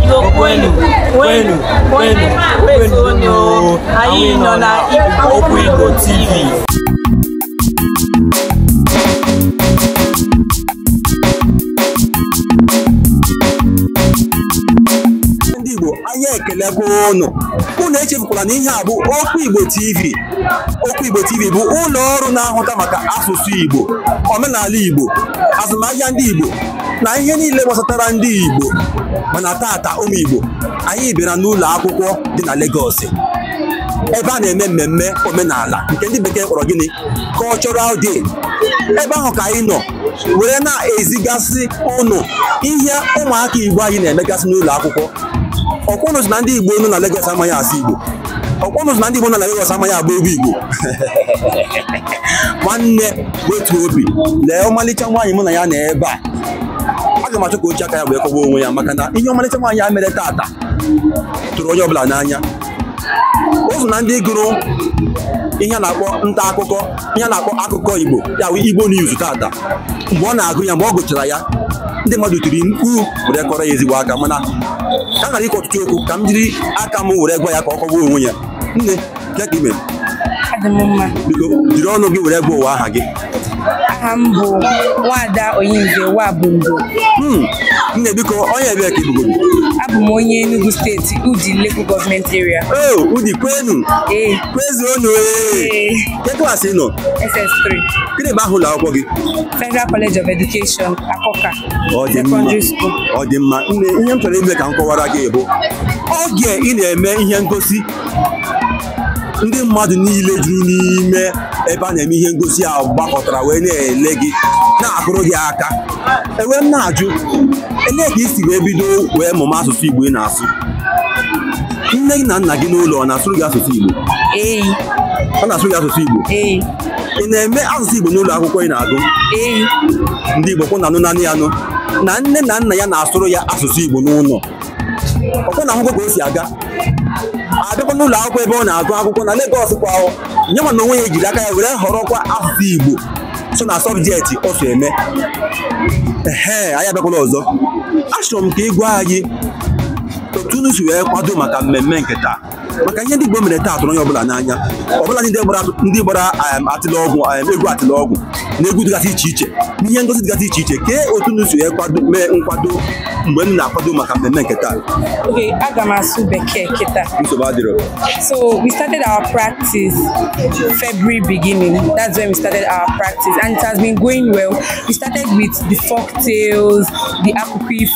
Igbo kwenu kwenu kwenu kwenu anyị nọ na Okwu Igbo TV anyị ekelekwa ụnụ ụnụ echefukwala na ihe a bụ okwu igbo tv okwu igbo tv bụ ụlọ ọrụ na-ahụta maka asụsụ igbo omenala igbo azụmahịa ndị igbo na ihe niile gbasatara ndị igbo mana tata ụmụ igbo anyị bịara n'ụlọ akwụkwọ dị na Lagos ebe a na-eme mmemme omenala nke ndị bekee kpọrọ gịnị cultural day ebe ahụ ka anyị nọ were na-ezigasị ụnụ ihe ụmụaka Igbo anyị na-emegasị n'ụlọ akwụkwọ ọkwa ụnụ sị na ndị Igbo nọ na Lagos amaghị asụ Igbo ọkwa ụnụ sị na ndị Igbo nọ na Lagos amaghị agba egwu Igbo nwanne wetu obi lee ọmalịcha nwaanyị mụ na ya nọ ebe a aga m achọ ka o ji aka ya wee kọwaa onwe ya maka na ihe ọmalịcha nwaanyị a mere tata tụrụ onye ọbụla n'anya o so na ndị gụrụ ihe a na-akpọ nta akụkọ ihe a na-akpọ akụkọ Igbo ya bụ Igbo News tata mgbe ọ na-agụ ya mgbe ọ gụchara ya ndị mmadụ tiri mkpu were kụọrọ ya ezigbo aka mana ka m ghara ikwu ọtụtụ okwu ka m jiri aka m were gwa ya ka ọ kọwaa onwe ya nne kee ka i me Adị m mma. biko jiri ọnụ gị were gwa ụwa aha gị Aha m bụ Nwada Onyinye Nwabundo. Hmm, nne biko onye ebee ka ị bụgodu Abụ m onye Enugu steeti Udi Local Government Area. o Udi kwenu Ee. Kwezuonu. Ee, Kee klaasị ị nọ? SS3, Gịnị bụ aha ụlọ akwụkwọ gị? Federal College of Education, Akoka, Secondary School. Ọ dị mma. Nne, ihe m chọrọ ime ka m kọwara gị bụ oge ị na-eme ihe ngosi ndị mmadụ niile juru n'ime ebe a na-eme ihe ngosi a gbakọtara wee na-ele gị na-akụrụ gị aka e wee m na-ajụ elee ka i si wee bido wee mụma asụsụ Igbo ị na-asụ nne gị na nna gị n'ụlọ ọ na-asụrụ gị asụsụ Igbo ee ọ na-asụrụ gị asụsụ Igbo ee ị na-eme asụsụ Igbo n'ụlọ akwụkwọ ị na-agụ ee ndị Igbo ọkwa ụnụ na-anụ nanị anụ na nne na nna ya na-asụrụ ya asụsụ Igbo n'ụlọ ọkwa ụnụ ahụgo ka o si aga abịakwa n'ụlọ akwụkwọ ebe ọ na-agụ akwụkwọ na Lagos kwa ahụ ya nwa n'onwe ya ejiri aka ya were họrọkwa asụsụ Igbo so na sọbjekti o so eme ehe anyị abịakwala ọzọ achọrọ m ka ị gwa anyị otu unu si wee kwado maka mmemme nke taa maka ihe ndị Igbo mere taa tụrụ onye ọbụla n'anya ọbụla ndị gbara ndị gbara um, atịlọgwụ um, egwu atịlọgwụ na egwu dịgasị iche iche na ihe ngosi dịgasị iche iche kee otu unu si wee kwado mee nkwado mgbe unu na-akwado maka mmemme nke taa Okay, aga m asụ bekee kịta. nsogbu adịrọ So we started our practice February beginning. That's when we started our practice, and it has been going well. We started with the folk tales, the akụkọ ifo,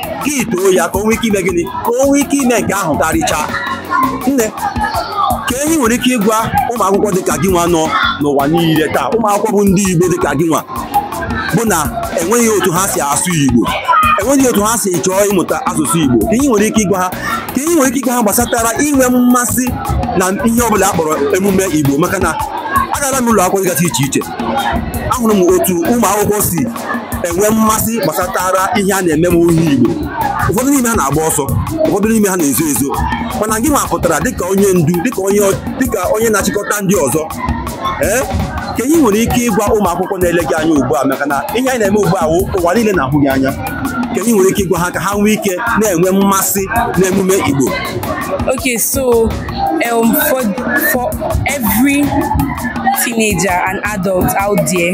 gị too ya ka o nwee ike ime gịnị ka o nwee ike ime nke ahụ karịchaa nne kee ihe i nwere ike ịgwa ụmụ akwụkwọ dịka gị nwa nọ n'ụwa niile taa ụmụ akwụkwọ bụ ndị Igbo dịka gị nwa bụ na enweghị otu ha si asụ Igbo enweghị otu ha si chọọ ịmụta asụsụ Igbo kee ihe i nwere ike ịgwa ha kee ihe i nwere ike ịgwa ha gbasatara inwe mmasị na ihe ọbụla a kpọrọ emume Igbo maka na agara m ụlọ akwụkwọ dịgasị iche iche ahụrụ m otu ụmụ akwụkwọ si enwe mmasị gbasatara ihe a na-eme ihe Igbo ụfọdụ n'ime ha na-agba ọsọ ụfọdụ n'ime ha na-ezo ezo mana gị nwa pụtara dịka onye ndu dịka onye dịka onye na-achịkọta ndị ọzọ ee kee ihe i nwere ike ịgwa ụmụ akwụkwọ na-ele gị anya ugbu a maka na ihe anyị na-eme ugbu a wụ ụwa niile na-ahụ gị anya kee ihe i nwere ike ịgwa ha ka ha nwee ike na-enwe mmasị n'emume Igbo Okay, so um, for for every teenager and adult out there,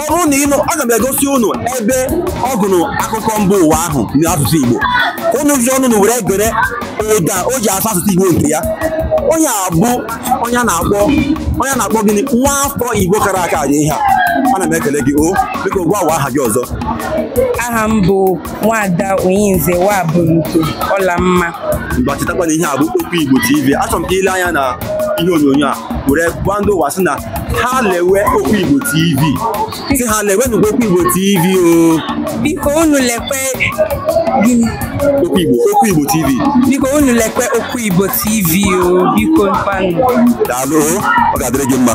ọ bụrụ na ịnụ aga m egosi unu ebe ọ gụrụ akụkọ mba ụwa ahụ n'asụsụ Igbo ka unu jiri onwe unu were gere ụda o ji asụ asụsụ Igbo nke ya onye a bụ onye a na-akpọ onye a na-akpọ gịnị nwa afọ Igbo kara aka dị ihe a ana m ekele gị o biko gwa ụwa aha gị ọzọ aha m bụ nwada Oyinze Nwaburuko Ọlamma ngwa chetakwa na ihe a bụ Okwu Igbo TV achọrọ m ka i lee anya na ihe onyonyo a were gwa ndị ụwa sị na ha lewe okwu igbo tv sị ha lewenụkwa okwu igbo tv o biko unu lekwe gịnị okwu igbo okwu igbo tv biko unu lekwe okwu igbo tv o biko ngwanụ daalụ o, ọ ga-adịrị gị mma